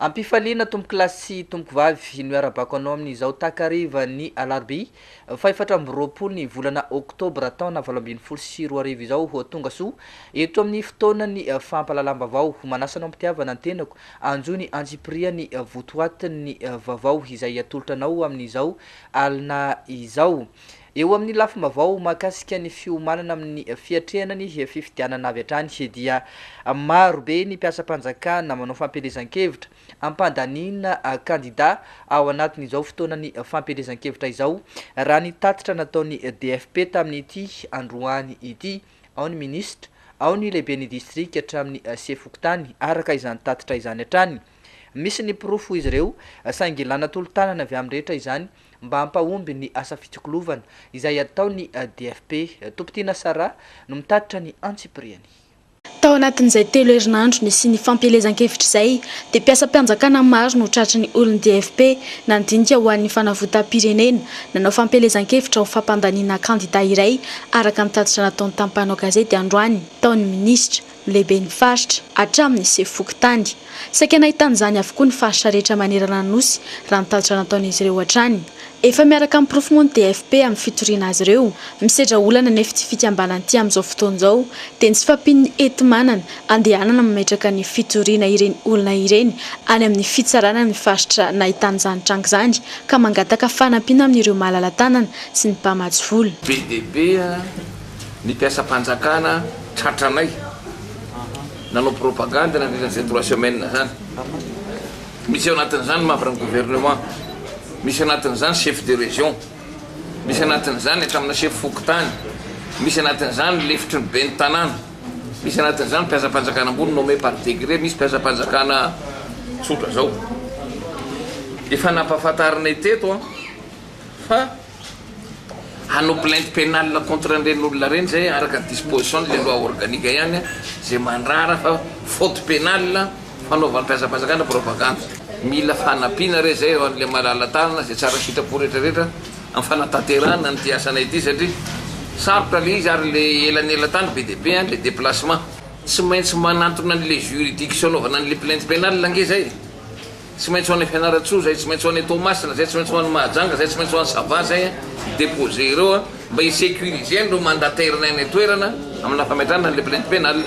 Ampifaliana tompokolahy sy tompokovavy no iarabako anao amin'izao takariva ny alarobia fahefatra amby roapolo ny volana oktobra taona valo ambin'ny folo sy roa arivo izao ho tonga soa eto amin'ny fotoanan'ny fampahalalam-bavao ho manasa anao am-pitiavana ny tenako anjo ny antsipiriany votoatin'ny vavao izay atolotra anao amin'izao alina izao Eo amin'ny lafim-baovao mahakasika ny fiomanana amin'ny fiatrehana ny fifidianana avy hatrany dia maro be ny mpiasam-panjakana manao fampielezan-kevitra hampandaniana kandida ao anatin'izao fotoanan'ny fampielezan-kevitra izao raha ny tatitra nataon'ny DFP tamin'ity androany ity, ao ny minisitra, ao ny lehiben'ny distrika hatramin'ny sefo fokontany araka izany tatitra izany hatrany. Misy ny porofo izy ireo, saingy ilàna tolo-tanana avy amin'ny rehetra izany mba hampahomby ny asa fitsikolovana, izay ataon'ny DFP. Tompon-tiana Sarah no mitatitra ny antsipiriany. Tao anatin'izay telo herinandro nisian'ny fampielezan-kevitra izay, dia mpiasam-pianjakana maro no tratry ny olon'ny DFP, nandinika ho an'ny fanavotam-pirenena, nanao fampielezan-kevitra ho fampandaniana kandida iray, araka ny tatitra nataon'ny tampanao gazety androany, tao ny minisitra. lehibe ny faritra, hatramin'ny sefo fokontany. Saika nahitana izany avokoa ny faritra rehetra manerana ny Nosy, raha ny tatitra nataon'izy ireo hatrany. Efa miaraka amin'ny porofo moa ny DFP amin'ny fitoriana azy ireo. Misedra olana anefa ity fikambanana ity amin'izao fotoana izao, dia ny tsy fahampian'ny enti-manana andehanana mametraka ny fitoriana ireny olona ireny any amin'ny fitsarana amin'ny faritra nahitana izany tranga izany, ka mangataka fanampiana amin'ireo malala-tanana sy ny mpamatsy vola. Be dia be an! ny mpiasam-panjakana tratranay nanao propagande nandritra izay trois semaines zany. Misy ao anatin'izany mambran'ny gouvernement, misy anatin'izany chef de région, misy anatin'izany hatramin'ny chef fokontany, misy anatin'izany lefitry ny ben'ny tanàna, misy anatin'izany mpiasam-panjakana ambony nommé par décret, misy mpiasam-panjakana tsotra zao. Efa nampahafantarinay teto fa Hanao plainte penale contre an'ireny olona ireny izay araka ny disposition ny loi organique ihany izay mandrara fa faute penale fanaovam-piazam-panjakana propagande. Mila fanampiana re izay eo an'ilay malala tanana izay tsara sitrapo rehetra rehetra amin'ny fanatanterahana an'ity asanay ity satria sarotra ilay izy ary ilay elanelan-tany be dia be an, ilay déplacement. Tsy maintsy manantona an'ilay juridiction anaovana an'ilay plainte penale ange izay e! Tsy maintsy ho any Fianarantsoa zay, tsy maintsy ho any Toamasina zay, tsy maintsy ho any Mahajanga zay, tsy maintsy ho any Sava zay ny deposer ireo a, mba hi-securiser an'ireo mandataire nay any an-toerana amina fametrahana an'ilay plainte pénale.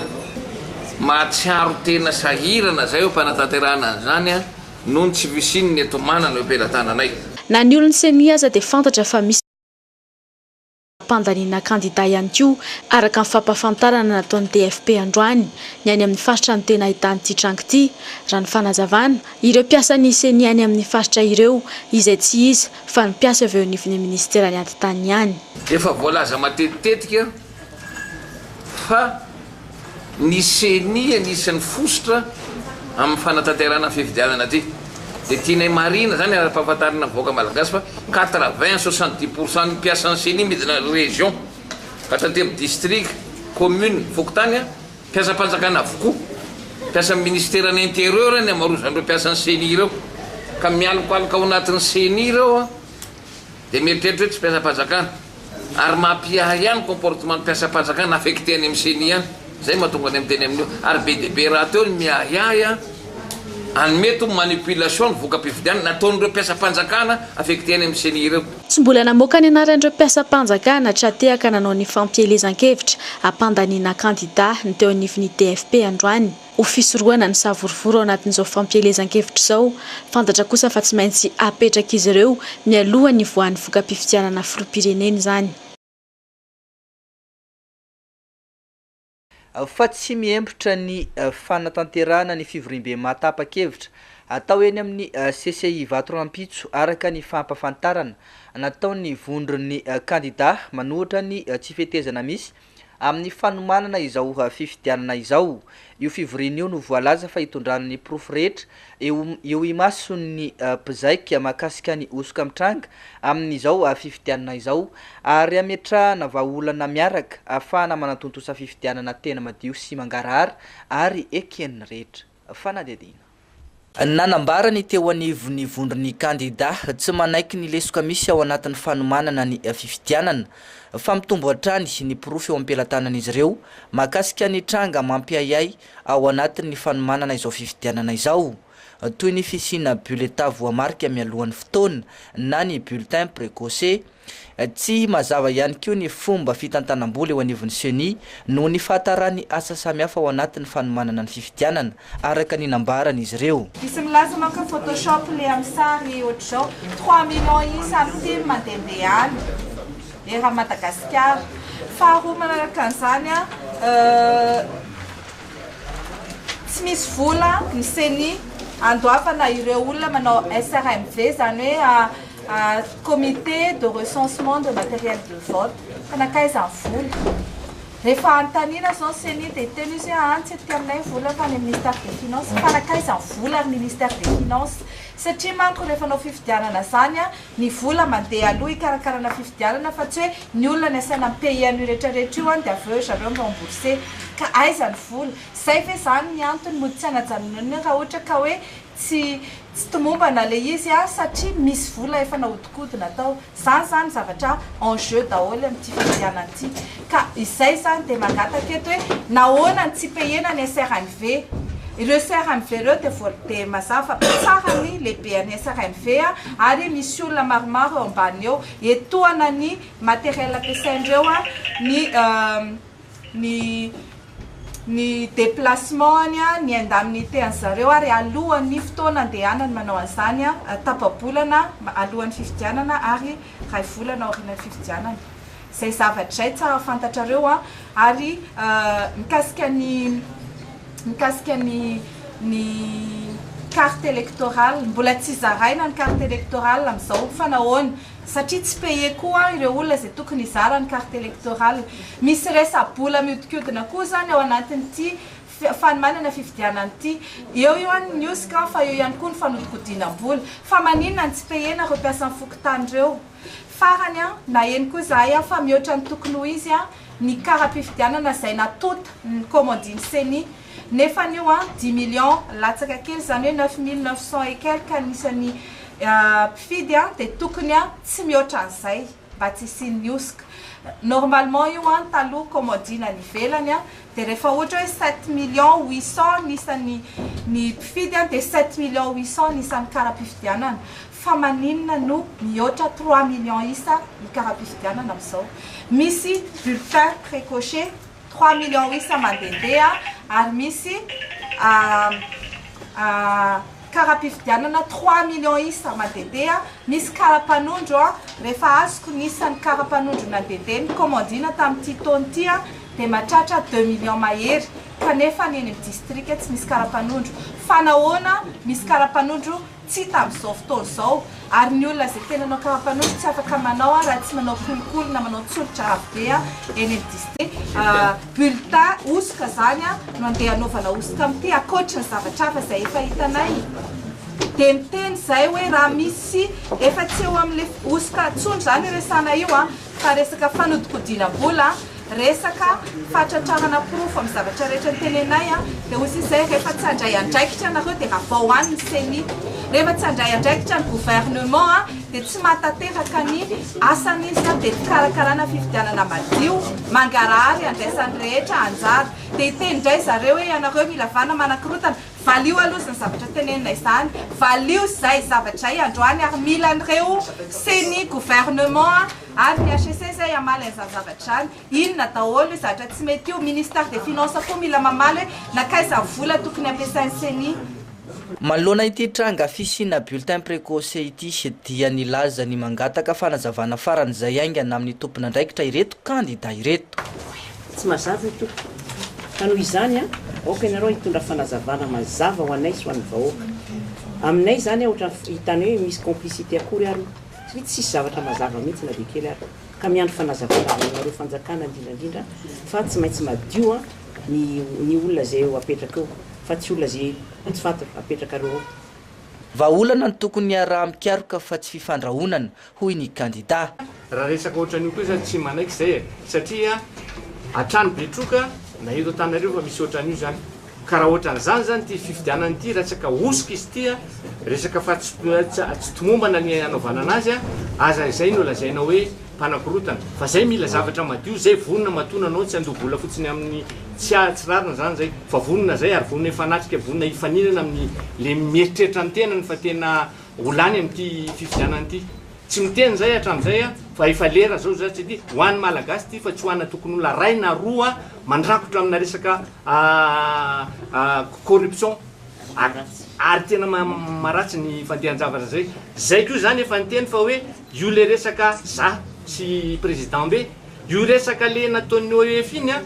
Mahatsiaro tena sahirana zay eo am-panatanterahana an'izany a, noho ny tsy fisian'ny ento-manana eo am-pelatananay. Na ny olon'ny ceni aza dia fantatra fa misy. Fampandaniana kandida ihany koa, araka ny fampahafantarana nataon'ny TFP androany, ny any amin'ny faritra no tena ahitan'ity tranga ity, raha ny fanazavana, ireo mpiasan'ny Ceni any amin'ny faritra ireo, izay tsy iza fa ny mpiasa avy eo anivon'ny minisiteran'ny Atitany ihany. Efa voalaza matetitetika fa. Ny ceni anisan'ny fositra amin'ny fanatanterahana fifidianana ity dia tianay marihina izany ary ampahafantarina ny vahoaka malagasy fa quatre vingt soixante dix pour cent ny mpiasan'ny ceni midina region ka hatramin'ny distrika, commune, fokontany mpiasam-panjakana avokoa. Mpiasan'ny ministeran'ny interieur ny amarozan'ireo mpiasan'ny ceni ireo ka mialokaloka ao anatin'ny ceni ireo. Dia mieritreritra hoe tsy mpiasam-panjakana. Ary mampiahy ahy ny comportement ny mpiasam-panjakana affecté any amin'ny ceni any. Izay mahatonga anay miteny amin'io. Ary be dia be rahateo ny miahy ahy any mety ho manipulation ny voka-pifidianana nataon'ireo mpiasam-panjakana affecté any amin'ny ceni ireo. Tsy mbola namoaka ny anaran'ireo mpiasam-panjakana tra-tehaka nanao ny fampielezan-kevitra hampandaniana kandida ny teo anivon'ny DFP androany. ho fisorohana ny savorovoro ao anatin'izao fampielezan-kevitra izao, fantatra kosa fa tsy maintsy apetrak'izy ireo mialoha ny hivoahan'ny voka-pifidianana filoham-pirenena izany. Fa tsy mihembotra ny fanatanterahana ny fivoriambe mahatapa-kevitra atao eny amin'ny CCI Vato rahampitso araka ny fampafantarana nataon'ny vondron'ny kandida manohitra ny tsy fetezana misy Amin'ny fanomanana izao fifidianana izao, io fivoriana io no voalaza fa hitondrany ny porofo rehetra eo imason'ny mpizaika mahakasika ny hosoka mitranga amin'izao fifidianana izao ary hametrahana vahaolana miaraka ahafahana manatontosa fifidianana tena madio sy mangarahara ary eken'ny rehetra. fanadihadiana. Nanambara ny teo anivon'ny vondron'ny kandidà tsy manaiky ny lesoka misy ao anatin'ny fanomanana ny fifidianana, fa mitombo hatrany ny porofo eo am-pelatanan'izy ireo mahakasika ny tranga mampiahiahy ao anatin'ny fanomanana izao fifidianana izao, toy ny fisiana bulletin voamarika mialohan'ny fotoana na ny bulletin precoce. Tsy mazava ihany koa ny fomba fitantanam-bola eo anivon'ny Ceni noho ny fahataràn'ny asa samihafa ao anatin'ny fanomanana ny fifidianana, araka ny nambaran'izy ireo. Misy milaza manko ny photoshop le amin'ny sary ohatr'izao, trois millions isa ny tim mandehandeha any eran'i Madagasikara. Faharoa manaraka an'izany, tsy misy vola ny Ceni handoavana ireo olona manao SRMV, izany hoe. Comité de recensement de matériel de vote, ka nankaiza ny vola? Rehefa anontanina zao ny ceni dia hiteny izy hoe any tsy tetika aminay ny vola fa any amin'ny ministère des finances, fa nankaiza ny vola ry ministère des finances? satria manko rehefa hanao fifidianana zany ny vola mandeha aloha hikarakarana fifidianana fa tsy hoe ny olona ny asaina mi payer an'io rehetra rehetra io dia avy eo ry zareo mi rembourser, ka aiza ny vola? zay ve zany ny antony mody tsy hanajanonanina raha ohatra ka hoe Tsy tsy tomombana le izy a satria misy vola efa nahodikodina tao. Zany zany zavatra en jeu daholo amin'ity fifidianana ity. Ka izay zany dia mangataka eto hoe nahoana ny tsy payena ny SRNV. Ireo SRNV ireo dia voal dia mazava fa be tsara ny lehibean'ny SRNV a ary misy olona maromaro eo ambany eo etohana ny matériel ampiasain'ireo a ny ny ny déplacement-ny, ny indemnité an'i zareo ary alohan'ny fotoana andehanany manao an'izany, tapa-bolana alohan'ny fifidianana ary iray volana aorianan'ny fifidianana. Izay zavatra izay tsara fantatrareo ary mikasika ny mikasika ny ny carte électorale, mbola tsy zaraina ny carte électorale amin'izao fa nahoana? Satria tsy payer koa ireo olona izay tokony hizara ny carte electorale. Misy resa-bola mihodinkodina koa izany ao anatin'ity fanomanana fifidianana ity. Eo ihany ny hosoka an, fa eo ihany koa ny fanodikodinam-bola. Fa maninona no tsy payer-na ireo mpiasan'ny fokontany ireo? Farany an, naheno koa izahay an, fa mihoatra ny tokony ho izy an, ny kara-pifidianana izay natonta ny kaomandin'ny ceni. Nefa anio an, dix millions latsaka kely, izany hoe neuf mille neuf cents et quelques ny isan'ny mpifidy an, dia tokony an tsy mihoatra an'izay mba tsy hisian'ny hosoka. Normalement io an, taloha commodine any ivelany an, dia rehefa ohatra hoe sept millions huit cents ny isan'ny ny mpifidy an, dia sept millions huit cents ny isan'ny kara-pifidianana. Fa maninona no mihoatra trois millions isa ny kara-pifidianana amin'izao? Misy bulletin précoché. Trois millions isa mandehandeha ary misy kara-pifidianana trois millions isa mandehandeha, misy kara-panondro, rehefa azoko ny isan'ny kara-panondro nandehandeha nikomandiana tamin'ity taona ity dia mahatratra deux millions mahery kanefa ny eny amin'ny distrika tsy misy kara-panondro, fa nahoana misy kara-panondro tsy tamin'izao fotoana izao, ary ny olona izay tena nanao karapanondro tsy afaka manao an raha tsy manao kolikoly na manao tsolotra avo be an eny amin'ny district a, bulletin hosoka izany an no andeha anaovana hosoka amin'ity ankoatry ny zavatra hafa izay efa hitanay dia miteny izay hoe raha misy efa tsy eo amin'ilay hosoka intsony izany resahana io an. Fa resaka fanodinkodinam-bola, resaka fahatratrarana porofo amin'ny zavatra rehetra tenenay dia hoy izay, rehefa tsy handray andraikitra ianareo dia ravao any ny ceni. Rehefa tsy handray andraikitra ny gouvernement dia tsy mahatanteraka ny asany izy dia ny fikarakarana fifidianana madio, mangarahara iandraisan'ny rehetra anjara. Dia hiteny indray zareo hoe ianareo mila vana manakorotana, Valio aloha izany zavatra tenenina izany, valio izay zavatra izay androany ary mila an'ireo ceni, gouvernement ary ny hcc zay hamaly an'izany zavatra izany. Inona daholo io zatra tsy mety io, ministère des finances koa mila mamaly hoe nankaiza ny vola tokony ampiasain'ny ceni. Manoloana ity tranga fisiana bulletin precoce ity dia nilaza ny mangataka fanazavana faran'izay haingana amin'ny tompon'andraikitra ireto kandida ireto. Tsy mazava io tompoko. Ka noho izany an, aoka ianareo hitondra fanazavana mazava ho anay sy ho an'ny vahoaka. Aminay izany an, ohatran'ny hitany hoe misy complicité akory ary io. Satria tsisy zavatra mazava mihitsy na dia kely ary. Ka miandry fanazavana avy aminareo fanjakana indrindra indrindra fa tsy maintsy madio an ny ny olona izay eo apetraka eo fa tsy olona izay tsy fantatra apetrakareo eo. Vahaolana no tokony hiaraha-mikaroka fa tsy fifandrahonana, hoy ny kandidà. Raha resaka ohatran'io koa izaho tsy manaiky izay e! satria hatrany Betroka na eto Antananarivo efa misy ohatran'io izany. Ka raha ohatran'izany izany ity fifidianana ity, raha tsy ka hosoka izy ity, resaka fa tsy tomombana ny hanaovana anazy, aza izay no lazaina hoe mpanakorontana. Fa izay mila zavatra madio, izay vonona matoa nanao, tsy handoa vola fotsiny amin'ny tsy tsy rariny izany izay, fa vonona izay ary vonona hifanatrika, vonona hifaninana amin'ny le mieritreritra ny tenany fa tena. Ho lany amin'ity fifidianana ity. Tsy miteny izay hatramin'izay aho fa efa lera izao izay tsy ity. Ho an'ny Malagasy ity fa tsy ho an'Atokon'olona ray na roa mandrakotra amina resaka corruption ary tena maharatsy ny fandehan-javatra izay. Izay koa izany efa niteny fa hoe io ilay resaka za sy président be. Io resaka le nataon'ny OEF iny an,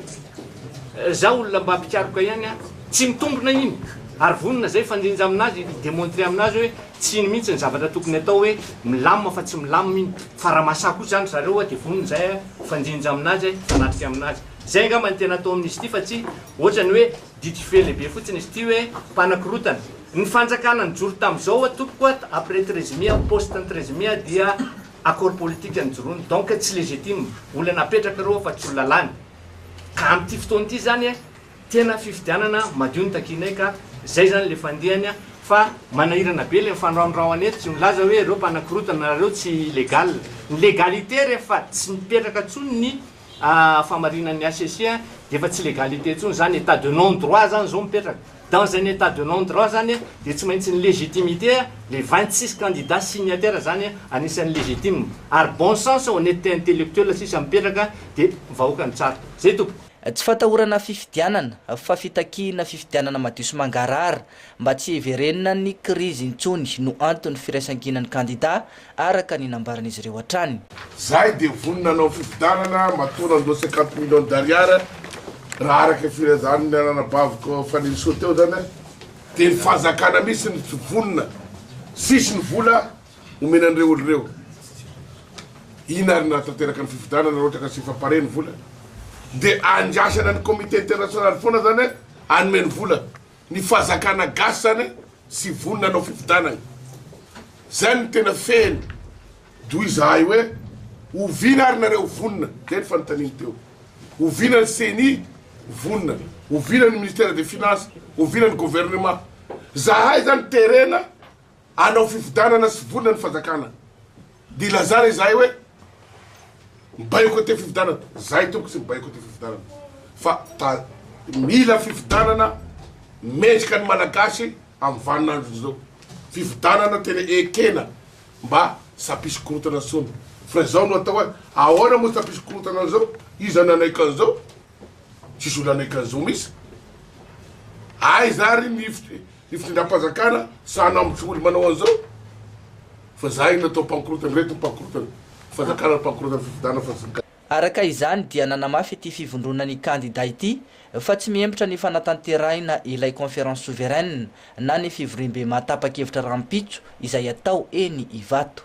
za olona mba mpikaroka ihany an, tsy mitombina iny, ary vonona zay hifandrinja aminazy, hi demontrer aminazy hoe tsy iny mihintsy ny zavatra tokony atao hoe milamina fa tsy milamina iny, fa raha mahasahy kosa zany ry zareo an de vonona zay an hifandrinja aminazy an, hifanatrika aminazy. Zay angamba ny tena atao amin'izy ity fa tsy ohatrany hoe didy feo lehibe fotsiny izy ity hoe mpanakorotana. Ny fanjakana nijoro tamin'izao an tompoko an, après treize mai, post-ny treize mai dia. Accord politique nijoroany donc tsy legitime, olona napetraka ireo fa tsy olona lany. Ka amin'ity fotoana ity izany tena fifidianana madio no takianay ka izay izany ilay fandehany fa manahirana be ilay mifanorahonorahoana eto, tsy milaza hoe ireo mpanakorotana nareo tsy legal. Ny legalité rehefa tsy mipetraka intsony ny. ah fahamarinan'ny HCC a, dia efa tsy légalité intsony zany, état de non droit zany zao mipetraka, dans un état de non droit zany a, dia tsy maintsy ny légitimité a, les vingt six candidats signataires zany a, anisan'ny légitime, ary bon sens, honnêteté intellectuelle sisa mipetraka, dia vahoaka no tsara. Zay tompoko. Tsy fatahorana fifidianana, fa fitakiana fifidianana madio sy mangarahara, mba tsy hiverenan'ny krizy intsony no anton'ny firaisankinan'ny kandida araka ny nambaran'izy ireo hatrany. Zahay dia vonona hanao fifidianana matoa nandoa cinquante millions d'ariary raha araka ny filazan'ny anabaviko Fanirisoa teo zany aho dia ny fanjakana mihintsy no tsy vonona sisy ny vola omena an'ireo olo ireo ina ary nahatanteraka ny fifidianana raha ohatra ka tsy fapare ny vola dia andrasana ny comité international foana zany hanome ny vola Ny fahazakana gasy zany tsy vonona hanao fifidianana. Zay no tena fehiny. Doha izahay hoe oviana ary nareo vonona? Zay ny fanontaniany teo. Oviana ny ceni vonona? Oviana ny ministère des finances? Oviana ny gouvernement? Zahay zany terena Hanao fifidianana sy vonona ny fanjakana dia ilazana izahay hoe mi-boycotter fifidianana. Izahay tompoko tsy mi-boycotter fifidianana fa ta mila fifidianana mendrika ny Malagasy amin'ny vaninandro izao. Fifidianana tena ekena mba tsy hampisy korontana intsony. Fa izao no atao hoe ahoana moa tsy hampisy korontana an'izao? Iza no hanaiky an'izao? Tsisy olona hanaiky an'izao mihitsy. Aiza ary ny Ny fitondram-panjakana sahy namotsy ory manao an'izao fa zay no atao pankorotana, reto ny pankorotana fanjakana ary pankorotana fifidianana fa tsy ny. Araka izany dia nanamafy ity fivondrona ny kandida ity fa tsy mihembotra ny fanatanterahina ilay conférence souveraine na ny fivoriambe maha tapa-kevitra rahampitso izay atao eny Ivato.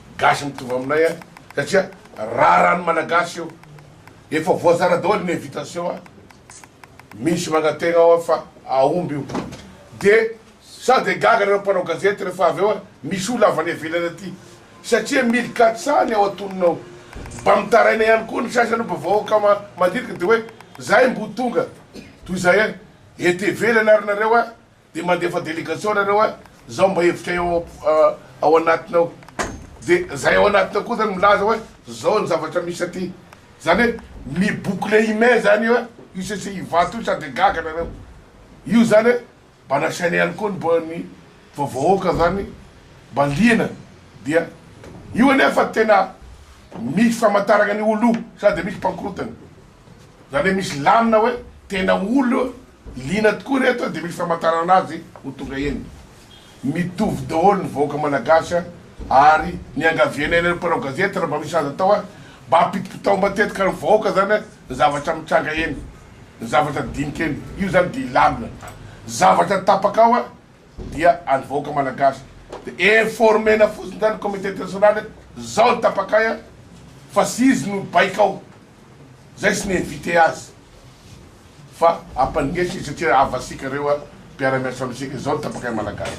Gasy mitovy aminay a! Satria raharan'ny Malagasy io! Efa voazara daholo ny invitation a! Misy mangategna ao fa aomby io! Dia sao dia gaga nareo mpanao gazety rehefa avy eo a! Misy olona avy any ivelany aty! Satria mille quatre cent ny ao antonony ao! Mba mitaraina ihany koa ny sasany mba vahoaka mandirika dia hoe zahay mbo tonga toy izay a! Ety ivelany ary nareo a! Dia mandefa delegation nareo a, zao mba hevitray ao ao anatiny ao, dia zay ao anatiny ao koa zany milaza hoe zao ny zavatra misy aty, zany hoe mi boucler i mai zany io a, io sese ivato io sa de gaga nareo, io zany hoe mba nasaina ihany koa ny mba ny va vahoaka zany mba liana, dia io anefa tena misy famantarana ny olo io sa de misy mpankorotana. Zany hoe misy lamina hoe tena olo liana tokoa reto de misy famantarana azy ho tonga eny. Mitovy daholo ny vahoaka malagasy a! ary niangavianay anareo mpanao gazety raha mba misy azo atao a! mba apitipitao matetika ny vahoaka zany a! ny zavatra mitranga eny, ny zavatra dinika eny, io zany dia lamina, zavatra tapaka ao a! dia an'ny vahoaka malagasy de informer-na fotsiny zany communauté internationale zao ny tapakay a! fa tsy izy no baikao. Zay tsy ni-inviter azy fa ampandeso izy satria havasika reo a, mpiara-miasa amintsika, zao ny tapakay malagasy.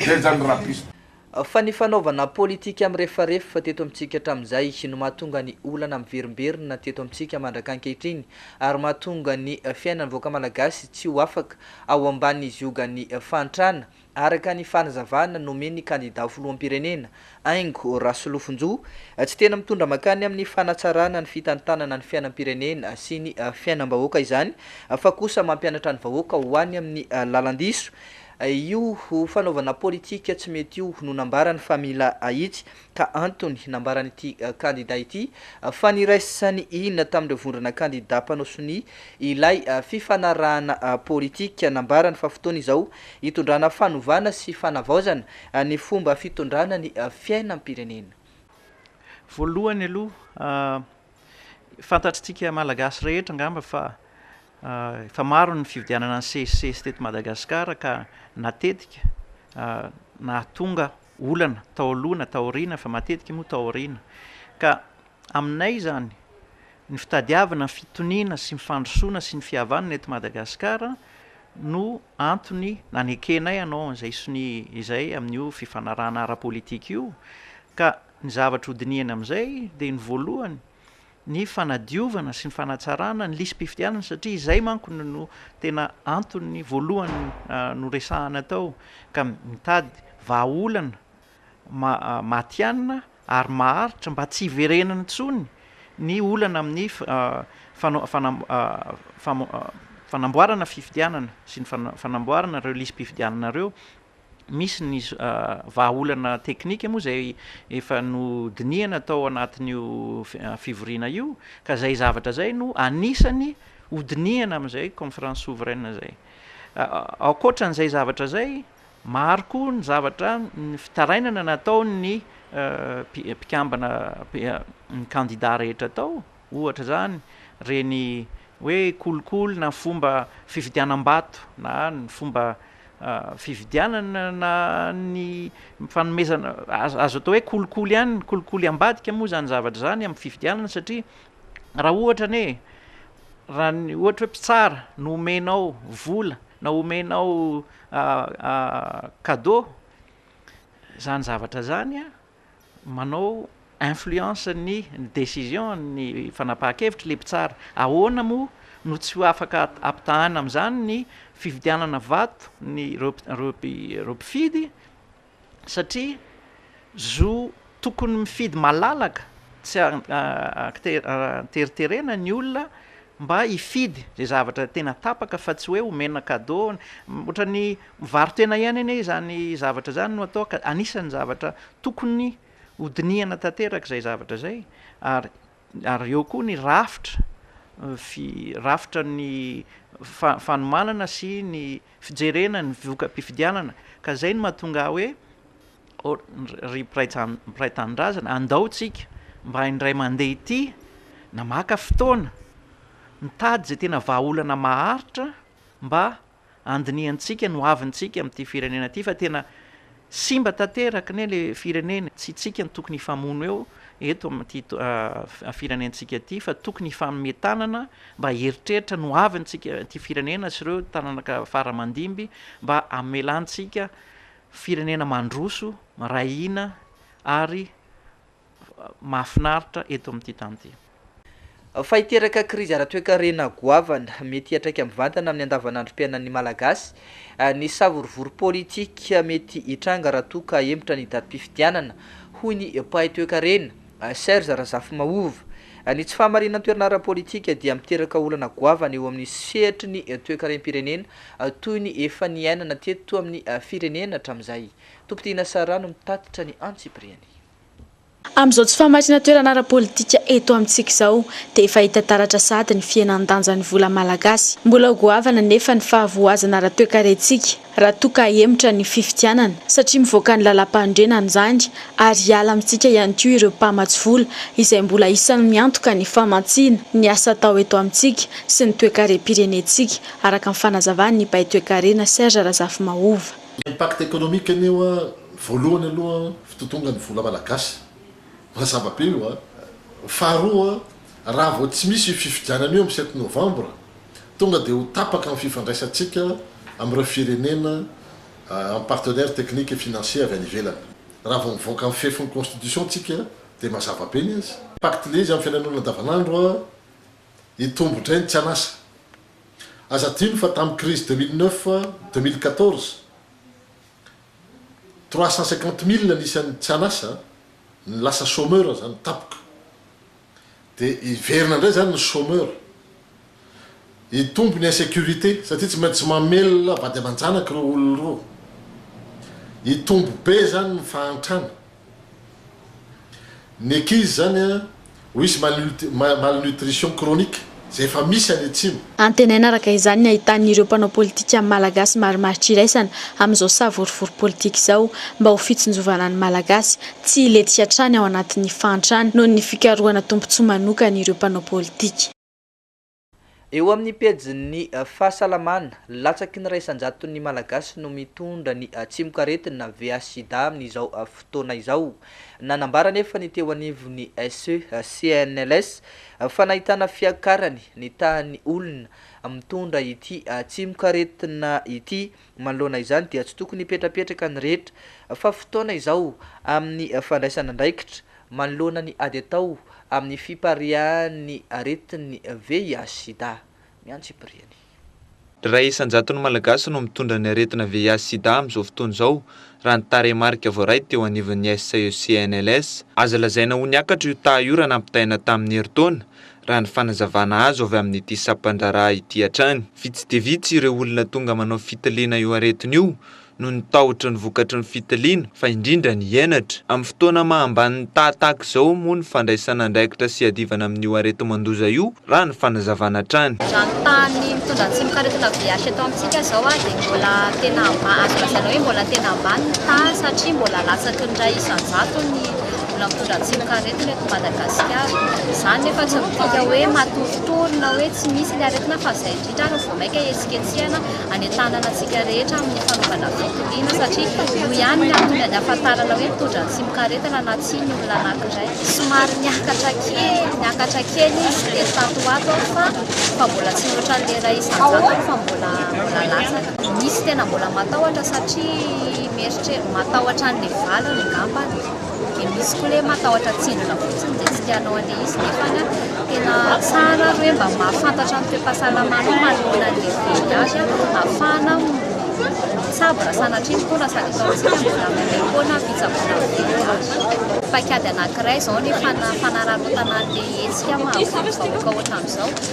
Zay zany rapiste. Fa ny fanaovana politika mirefarefa teto amintsika hatramin'izay no mahatonga ny olana miverimberina teto amintsika mandrak'ankehitriny ary mahatonga ny fiainan'ny vahoaka malagasy tsy ho afaka ao ambanin'ny ziogan'ny fahantrana araka ny fanazavana nomen'ny kandida ho filoham-pirenena, Aingo Rasolofonjo, tsy tena mitondra mankany amin'ny fanatsarana ny fitantanana ny fiainam-pirenena sy ny fiainam-bahoaka izany fa kosa mampianatra ny vahoaka ho any amin'ny lalan-diso. Io fanaovana politika tsy mety io no nambarany fa mila ahitsy ka antony nambaran'ity kandida ity fa niraisany ina tamin'ireo vondrona kandida mpanao sonia ilay fifanarahana politika. Nambarany fa fotoana izao hitondrana fanovana sy fanavaozana ny fomba fitondrana ny fiainam-pirenena. Voalohany aloha, fantatr'tsika Malagasy rehetra angamba fa efa maro ny fividianana ny CEC teto Madagasikara ka natetika nahatonga olana tao aloha na tao aoriana fa matetika moa tao aoriana ka aminay izany ny fitadiavana ny fitoniana sy ny fandrosoana sy ny fihavanana eto Madagasikara no antony nanekenay hanao an'izay sonia izay amin'io fifanarahana ara-politika io ka ny zavatra hodinihana amin'izay dia ny voalohany ny fanadiovana sy ny fanatsarana ny lisi-pifidianana satria izay manko no no tena antony voalohany no resahana tao ka mitady vahaolana matihanina ary maharitra mba tsy hiverenana intsony ny olana amin'ny fanamboarana fifidianana sy ny fanamboarana ireo lisi-pifidianana ireo misy ny vahaolana teknika moa izay efa nodinihana tao anatin'io fivoriana io ka izay zavatra izay no anisany hodinihana amin'izay conférence souveraine izay. Ankoatran'izay zavatra izay, maro koa ny zavatra ny fitarainana nataon'ny mpikambana ny kandida rehetra tao Ohatra izany ireny hoe kolikoly na fomba fividianam-bato na ny fomba fividianana na ny fanomezana, azo atao hoe kolikoly ihany ny kolikoly ambadika moa izany zavatra izany amin'ny fividianana satria raha ohatra anie raha ny ohatra hoe mpitsara no omenao vola na omenao cadeau izany zavatra izany an! manao influence ny ny décision ny fanapahan-kevitry le mpitsara, ahoana moa no tsy ho afaka ampitahana amin'izany ny fividianana vato ny ireo ireo ireo mpifidy satria zo tokony mifidy malalaka tsy an-kiteriterena ny olona mba hifidy izay zavatra tena tapaka fa tsy hoe omena cadeau, ohatran'ny mivaro-tena ihany anie izany zavatra izany no atao ka anisan'ny zavatra tokony hodinihana tanteraka izay zavatra izay ary ary eo koa ny rafitra rafitra ny fanomanana sy ny fijerena ny voka-pifidianana ka zay no mahatonga ahy hoe or ry mpiray tanindrazana andao tsika mba indray mandeha ity na maka fotoana mitady zay tena vahaolana maharitra mba andinihantsika ny hoavintsika amin'ity firenena ity fa tena Simba tanteraka ne le firenena, tsy tsika no tokony hifamono eo eto amin'ity firenentsika ity fa tokony hifanome tanana mba hieritreritra ny hoaviny tsika ity firenena sy ireo tananaka fara mandimby mba hamelantsika firenena mandroso, miray hina ary mahafinaritra eto amin'ity tany ity. Fa hiteraka krizy ara-toekarena goavana, mety hiantraika mivantana amin'ny andavanandrom-piainan'ny Malagasy, ny savorovoro politika mety hitranga raha toa ka hemotra ny datim-pifidianana, hoy ny mpahay toekarena, Serge Razafimahova. Ny tsy fahamarinan-toerana ara-politika dia miteraka olana goavana eo amin'ny sehatry ny toekarem-pirenena, toy ny efa niainana teto amin'ny firenena hatramin'izay. Tompodiana Sarah no nitatitra ny antsipiriany. Amin'izao tsy fahamarinana toerana ara-politika eto amintsika izao dia efa hita taratra sahady ny fihenan-danjan'ny vola malagasy. Mbola ho goavana anefa ny fahavoazana ara-toekarentsika raha toa ka hahemotra ny fifidianana satria mivoaka ny lalàmpanorenana izany ary hiala amintsika ihany koa ireo mpamatsy vola izay mbola isan'ny miantoka ny famatsiana ny asa atao eto amintsika sy ny toekarem-pirenentsika, araka ny fanazavan'ny mpahay toekarena Serge Razafimahova. Impact économique anie hoa voalohany aloha Mpitotonga ny vola malagasy. Mazava be io a! Faharoa, raha vao tsy misy io fifidianana io amin'ny sept novembre, tonga dia ho tapaka ny fifandraisantsika amin'ireo firenena en partenaire technique et financier avy any ivelany. Raha vao mivoaka ny fefy ny constitution tsika dia mazava be ny azy. Pacte ilay izy amin'ny fiainan'olona andavanandro a! Hitombo indray ny tsy an'asa. Aza adino fa tamin'ny crise deux mille neuf, deux mille quatorze, Trois cent cinquante mille ny isan'ny tsy an'asa, ny lasa chômeur izany tapoka. Dia hiverina indray izany ny chômeur. Hitombo ny insécurité satria tsy maintsy mamelona vady aman-janaka ireo olona ireo. Hitombo be izany ny fahantrana. Ny ankizy zany a, ho hisy malnutrition chronique, izay efa misy any atsimo. Antenaina araka izany ny ahitan'ireo mpanao politika malagasy marimaritra iraisana amin'izao savorovoro politika izao mba ho fitsinjovana ny Malagasy tsy hilentika hatrany ao anatin'ny fahantrana noho ny fikarohana tombontsoa manokan'ireo mpanao politika. Eo amin'ny pejin'ny fahasalamana, latsaky ny iray isan-jaton'ny Malagasy no mitondra ny tsimokaretina VIH-Sida amin'izao fotoana izao. Nanambara anefa ny teo anivon'ny SE, CNLS, fa nahitana fiakarany ny tahan'ny olona mitondra ity tsimokaretina ity Manoloana izany dia tsy tokony hipetrapetraka ny rehetra fa fotoana izao amin'ny fandraisana andraikitra manoloana ny ady atao amin'ny fipariahan'ny aretin'ny VIH-sida. Ny antsipiriany. Iray isan-jaton'ny Malagasy no mitondra ny aretina VIH-sida amin'izao fotoana izao, raha ny tarehimarika voaray teo anivon'ny SAECNLS. Azo lazaina ho niakatra io taha io raha nampitahaina tamin'ny herintaona raha ny fanazavana azo avy amin'ity sampandraharaha ity hatrany. Vitsy dia vitsy ireo olona tonga manao fitiliana io aretina io noho ny tahotry ny vokatry ny fitiliana, fa indrindra ny henatra. Amin'ny fotoana maha ambany ny taha tahaka izao moa ny fandraisana andraikitra sy iadivana amin'io areti-mandoza io, raha ny fanazavana hatrany. Raha ny tahan'ny mitondra tsimokaretina VIH eto amintsika izao dia mbola tena ambany, azo lazaina hoe mbola tena ambany ny taha satria mbola latsaky ny iray isan-jato ny. Mbola mitondra tsimokaretina eto Madagasikara. Izany nefa tsy midika hoe matoritory na hoe tsy misy ilay aretina fa izay indrindra ary no vao mainka hetsiketsehana any an-tanana antsika rehetra amin'ny fanaovana fitoniana satria io ihany no antony anafantarana hoe mitondra tsimokaretina na tsia ny olona anankiray. Somary niakatra kely niakatra kely izy dia tato ho ato aho fa fa mbola tsy mihoatran'ny iray isan-jato aho fa mbola mbola latsaka. Misy tena mbola matahotra satria mieritreritra matahotra an'ilay valiny ngambany. Dia misy koa le matahotra tsindrona fotsiny dia tsy tianao handeha izy nefa tena tsara ary hoe mba mahafantatra ny toe-pahasalamanao manoloana ny VIH ahafahana mitsabo raha sanatria ny fona sady eto amintsika mbola mandeha foana ny fitsaboana ny VIH. Paikady anankiray izao ny fanararaotana an'ilay hetsika maha vaovao vahoaka ohatran'izao.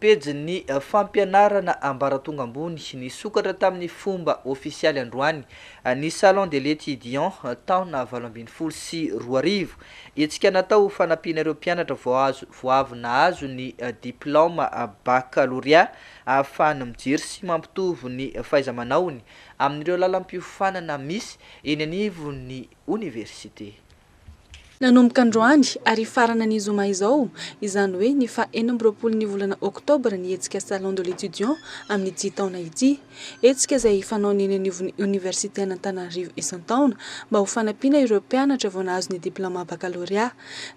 Pejin'ny fampianarana ambaratonga ambony nisokatra tamin'ny fomba ofisialy androany ny Salon de l'Etudiant taona valo ambin'ny folo sy roa arivo. Hetsika natao ho fanampiana ireo mpianatra vao azo vao avy nahazo ny diplaoma bakalorea ahafahany mijery sy mampitovy ny fahaiza-manaony amin'ireo lalam-piofanana misy eny anivon'ny oniversite. Nanomboka androany ary hifarana ny zoma izao, izany hoe ny faha enina amby roapolo ny volana oktobra ny hetsika Salon de l'Etudiant amin'ity taona ity. Hetsika izay fanaony eny anivon'ny Oniversiten'Antananarivo isan-taona mba ho fanampiana ireo mpianatra vao nahazo ny diplaoma bakalorea.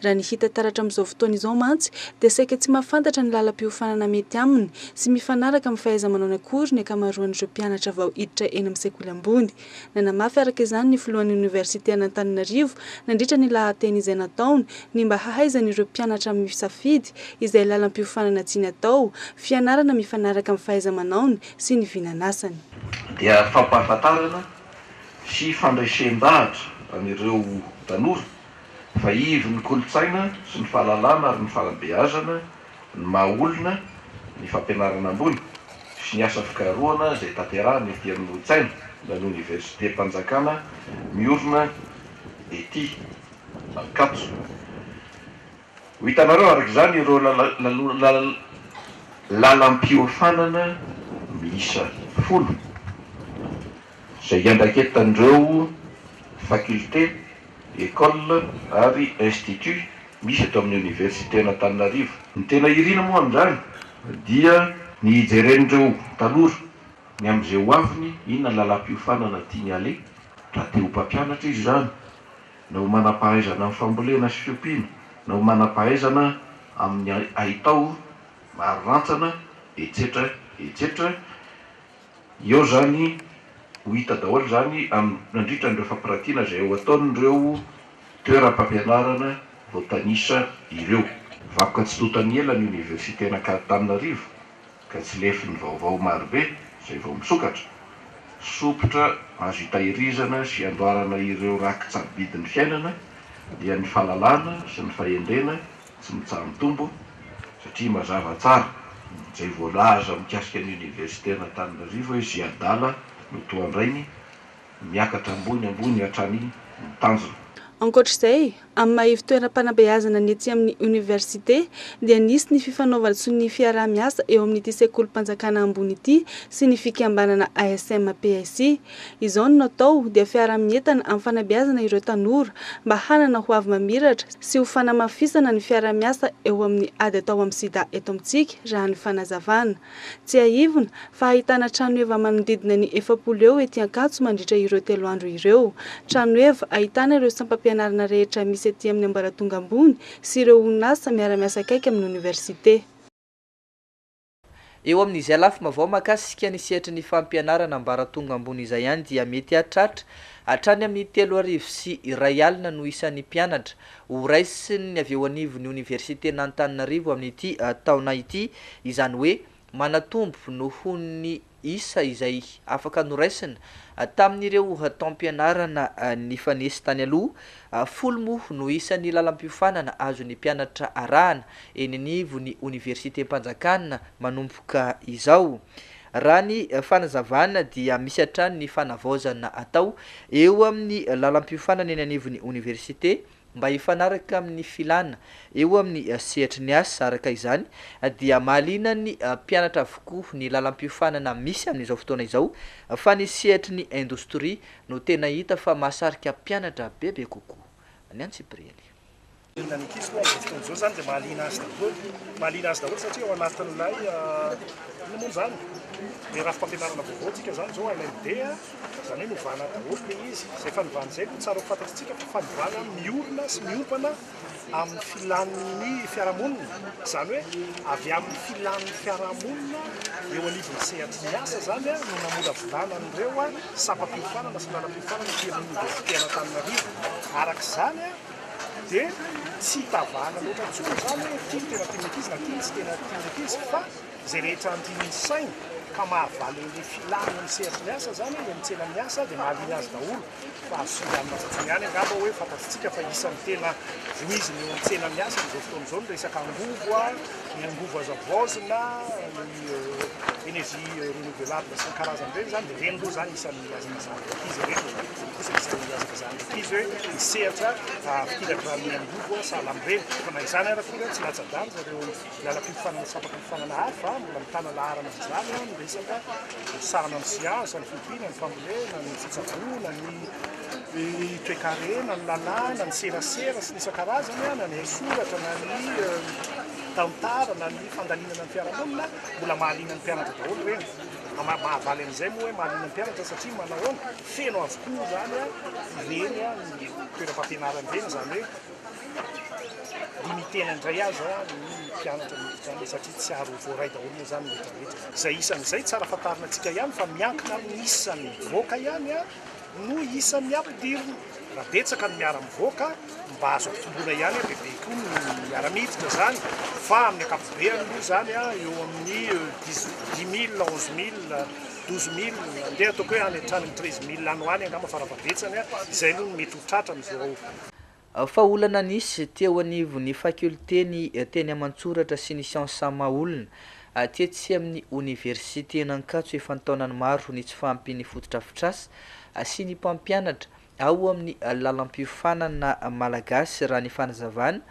Raha ny hita taratra amin'izao fotoana izao mantsy dia saika tsy mahafantatra ny lalam-piofanana mety aminy sy mifanaraka amin'ny fahaiza-manaony akory ny ankamaroan'ireo mpianatra vao hiditra eny amin'ny sekoly ambony. Nanamafy araka izany ny filohan'ny oniversiten'Antananarivo, nandritra ny lahateny izay nataony, ny mba hahaizan'ireo mpianatra misafidy izay lalam-piofanana tiany atao, fianarana mifanaraka amin'ny fahaiza-manaony sy ny vinanasany. Dia fampahafantarana sy fandresen-dahatra an'ireo tanora fa ivon'ny kolontsaina sy ny fahalalana ary ny fanabeazana Ny maha olona, ny fampianarana ambony, sy ny asa fikarohana izay tanterahina ety amin'ny Hotsaina na ny Oniversitem-panjakana miorina ety Ankatso. Ho hitanareo araka izany ireo lalam-piofanana miisa folo izay iandraiketan'ireo fakilte Ecole ary Institut misy eto amin'ny Oniversiten'Antananarivo. Ny tena irina moa amin'izany dia ny hijeren'ireo tanora ny amin'izay ho aviny, inona ny lalam-piofanana tiany haleha, raha te ho mpampianatra izy izany, na ho manam-pahaizana amin'ny fambolena sy fiompiana, na ho manam-pahaizana amin'ny haitao ary rantsana, etsetra etsetra. Eo izany ho hita daholo izany amin'ny nandritra an'ireo fampirantiana izay ho ataon'ireo toeram-pampianarana voatanisa ireo. Vakoka tsy tonta ny ela ny Oniversiten'Ankatananarivo ka tsy lefin'ny vaovao marobe izay vao misokatra. Sompitra azo itahirizana sy andoarana ireo rakitsabidin'ny fiainana dia ny fahalalana sy ny fahendrena tsy mitsaha-mitombo satria mazava tsara izay voalaza mikasika ny Oniversiten'Antananarivo hoe izay adala no toa andrainy, miakatra ambony ambony hatrany ny tanjona. Ankoatra izay, amin'ny maha ivo-toeram-panabeazana ny etsy amin'ny Oniversite dia nisy ny fifanaovan-tso ny fiaraha-miasa eo amin'ity sekolim-panjakana ambony ity sy ny fikambanana ASM-PSI. Izao no natao dia fiaraha-mientana amin'ny fanabeazana ireo tanora mba hanana ho avy mamiratra sy ho fanamafisana ny fiaraha-miasa eo amin'ny ady atao amin'ny sida eto amintsika raha ny fanazavana. Tsiahivina fa ahitana tranoheva manodidina ny efapolo eo ety Ankatso mandritra ireo telo andro ireo. Tranoheva ahitana ireo sampam-pianarana rehetra misy ety amin'ny ambaratonga ambony sy ireo orinasa miara-miasa akaiky amin'ny oniversite. Eo amin'izay lafima vao makasika ny sehatry ny fampianarana ambaratonga ambony izay ihany dia mety hahatratra hatrany amin'ny telo arivo sy iray alina no isan'ny mpianatra ho raisin'ny avy eo anivon'ny oniversiten'Antananarivo amin'ity taona ity, izany hoe manatombo noho ny. isa izay afaka noraisina tamin'ireo taom-pianarana nifanesy tany aloha. Folo moa no isan'ny lalam-piofanana azon'ny mpianatra arahana eny anivon'ny Oniversitem-panjakana manomboka izao. Raha ny fanazavana dia misy hatrany ny fanavaozana atao eo amin'ny lalam-piofanana eny anivon'ny Oniversite mba hifanaraka amin'ny filana eo amin'ny sehatry ny asa, araka izany dia mahalianan'ny mpianatra avokoa ny lalam-piofanana misy amin'izao fotoana izao fa ny sehatry ny indostria no tena hita fa mahasarika mpianatra bebe kokoa. Ny antsipiriany. Ny ankizy koa amin'izao fotoana izao izany dia mahaliana azy daholo, mahaliana azy daholo satria ao anatin'ilay, inona moa izany, ilay rafi-pampianarana vaovao antsika izany izao, ilay be a, Izany hoe novana daholo ilay izy. Izay fanovana izay no tsara ho fantatsika fa fanovana miorina sy miompana amin'ny filan'ny fiarahamonina. Izany hoe avy amin'ny filan'ny fiarahamonina eo anivon'ny sehatry ny asa izany no namolavolana an'ireo sampam-piofanana sy lalam-piofanana ety amin'ny Oniversite an'Antananarivo. Araka izany dia tsy hitavahana loatra intsony izany hoe ity no tena tian'ny ankizy na ity no tsy tena tian'ny ankizy fa Izay rehetra andrin'ny sainy ka mahavaly an'ilay filàny eny sehatry ny asa izany, eny amin'ny tsenan'ny asa, dia mahaliana azy daholo. Fa azo singanina fotsiny ihany angamba hoe fantatsika fa isan'ny tena voizina eo amin'ny tsenan'ny asa amin'izao fotoana izao ny resaka angovo, ny angovo azo havaozina, ny énergie renouvelable sy ny karazany ireny izany, dia ireny aloha izany isan'ny hazakazahana ankizy ireny. Dia ireny kosa isan'ny hazakazahana ankizy hoe ny sehatra fikirakirana ny angovo sahala amin'ireny. Fa na izany ary akory, tsy latsa-danja ireo. Lalam-pififanana sy fampam-pififanana hafa, mbola mitana laharana amin'izany ny resaka misahana ny siansa, ny fiompiana, ny fambolena, ny fitsaboana, ny toekarena, ny lalàna, ny serasera sy ny isan-karazany, na ny haisoratra, na ny tantara, na ny fandalinana ny fiarahamonina, mbola mahaliana ny mpianatra daholo ireny. Mahavaly an'izay moa hoe mahaliana ny mpianatra satria manahoana? Feno avokoa izany ireny toeram-pampianarana ireny, izany hoe Dimy tena indray aza ny mpianatra miditra any satria tsy ary ho voaray daholo moa izany ny retraretra. Izay isan'izay tsara fantarina antsika ihany fa miankina amin'ny isan'ny mivoaka ihany no isan'ny ampidirina. Raha betsaka ny miara-mivoaka mba azo ampitomboina ihany dia be koa ny miara-miditra izany fa amin'ny ankapobeany moa izany eo amin'ny dix dix mille, onze mille, douze mille andeha ataoko hoe any hatrany amin'ny treize mille any ho any angamba fara-fahabetsany. Izay aloha no mety ho tratra amin'izao. Fa olana nisy teo anivon'ny fakiolten'ny teny aman-tsoratra sy ny siansa maha olona, tetsy amin'ny oniversiten'Ankatso efa an-taonany maro ny tsy fahampian'ny fotodrafitrasa sy ny mpampianatra ao amin'ny lalam-piofanana malagasy raha ny fanazavana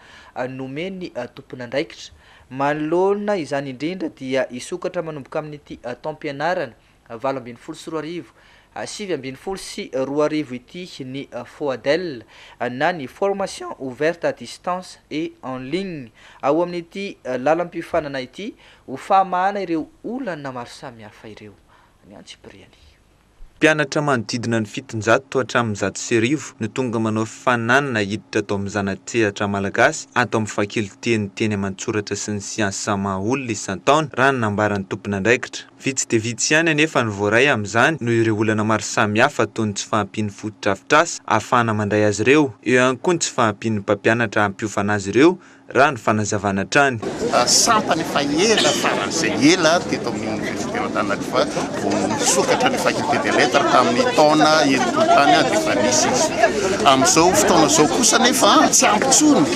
nomen'ny tompon'andraikitra. Manoloana izany indrindra dia hisokatra manomboka amin'ity taom-pianarana valo ambin'ny folo sy roa arivo, sivy ambin'ny folo sy roa arivo ity ny FOADEL na ny Formation ouverte à distance et en ligne ao amin'ity lalam-piofanana ity ho fahamahana ireo olana maro samihafa ireo ny antsipiriany. Mpianatra manodidina ny fitonjato hatramin'ny zato sy arivo no tonga manao fifaninanana hiditra tao amin'ny zana-tsehatra malagasy ato amin'ny fakiloten'ny teny aman-tsoratra sy ny siansa maha olona isan-taona raha ny nambaran'ny tompon'andraikitra. Vitsy dia vitsy ihany anefa no voaray amin'izany noho ireo olana maro samihafa toy ny tsy fahampian'ny fotodrafitrasa ahafahana mandray azy ireo, eo ihany koa ny tsy fahampian'ny mpampianatra hampiofana azy ireo, raha ny fanazavana hatrany. Sampana efa ela taran'izay ela teto amin'ny Oniversiten'Antananarivo fa vao nisokatra ny Faculté des Lettres tamin'ny taona enimpolo tany dia efa nisy izy. Amin'izao fotoana izao kosa anefa tsy ampy intsony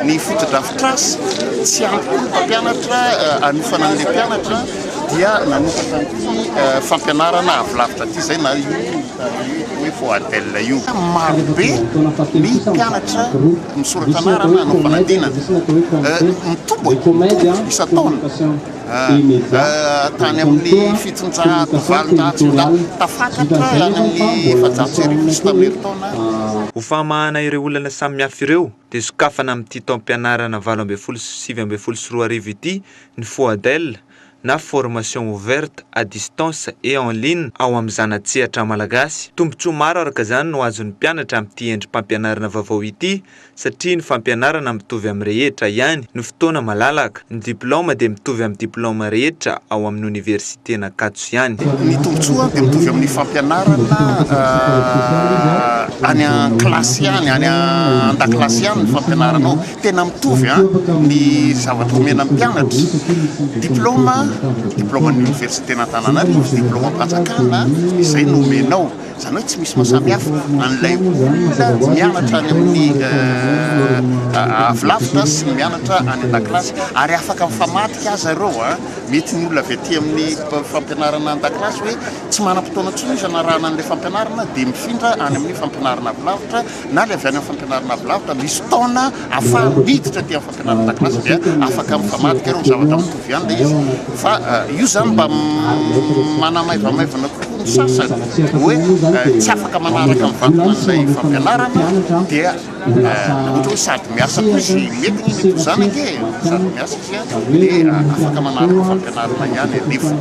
ny fotodrafitrasa, tsy ampy koa ny mpampianatra haniofana an'ilay mpianatra. dia nanomboka tamin'ity fampianarana avy lavitra ity izay na io hoe FOADEL io. Marobe ny mpianatra misoratra anarana hanao fanadinana. Mitombo mitombo isan-taona. Ah, tany amin'ny fitonjato valonjato sy zato tafakatra any amin'ny efajato sy arivo sy tamin'ny herintaona Ho fahamahana ireo olana samihafa ireo dia sokafana amin'ity taom-pianarana valo ambin'ny folo sy sivy ambin'ny folo sy roa arivo ity ny FOADEL na Formation Ouverte à Distance et en Ligne ao amin'ny zana-tsehatra malagasy. Tombontsoa maro araka izany no azon'ny mpianatra amin'ity endri-pampianarana vaovao ity satria ny fampianarana mitovy amin'ny rehetra ihany no fotoana malalaka. Ny diplaoma dia mitovy amin'ny diplaoma rehetra ao amin'ny oniversiten'Ankatso ihany. Ny tombontsoa dia mitovy amin'ny fampianarana any an-kilasy ihany, any an-dakilasy ihany ny fampianarana ao. Tena mitovy ny zavatra omena ny mpianatra, diplaoma, diplaoman'ny oniversiten'Antananarivo, diplaomam-panjakana, izay no omenao. Izany hoe tsy misy mahasamihafa an'ilay olona mianatra any amin'ny avilavitra sy ny mianatra any an-dakilasy, ary afaka mifamadika aza ireo. Mety ny olona avy aty amin'ny fampianarana an-dakilasy hoe tsy manam-potoana intsony izy hanarahana an'ilay fampianarana, dia mifindra any amin'ny fampianarana avilavitra. na ilay avy any amin'ny fampianarana avy lavitra, misy taona afahany miditra aty amin'ny fampianarana an-dakilasy dia afaka mifamadika ireo zavatra mitovy ihany ilay izy. Fa io izany mba manamaivamaivana kokoa ny sasany, hoe tsy afaka manaraka mivantana an'ilay fampianarana dia ohatra hoe sady miasa koa izy, mety ny mety ho izany ange e, sady miasa izy dia afaka manaraka fampianarana ihany anefa.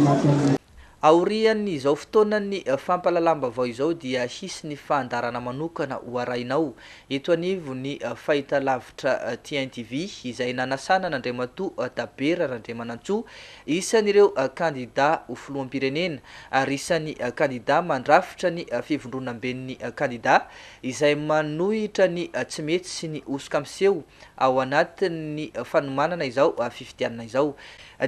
Aorian'izao fotoanan'ny fampahalalam-baovao izao dia hisy ny fandaharana manokana ho arahinao eto anivon'ny fahitalavitra TNTV izay nanasana an'Andriamatoa Dabera Randriamanantsoa, isan'ireo kandidà ho filoham-pirenena ary isan'ny kandidà mandrafitra ny fivondronamben'ny kandidà izay manohitra ny tsy mety sy ny hosoka miseho ao anatin'ny fanomanana izao fifidianana izao.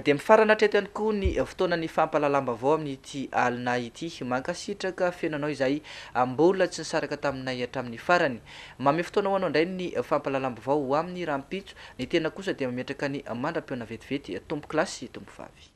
Dia mifarana hatreto ihany koa ny fotoanan'ny fampahalalam-baovao amin'ity alina ity. Mankasitraka feno anao izay mbola tsy nisaraka taminay hatramin'ny farany. Mamehy fotoana ho anao indray ny fampahalalam-baovao ho amin'ny rahampitso. Ny tena kosa dia mametraka ny mandra-pihaona vetivety tompokolahy sy tompovavy.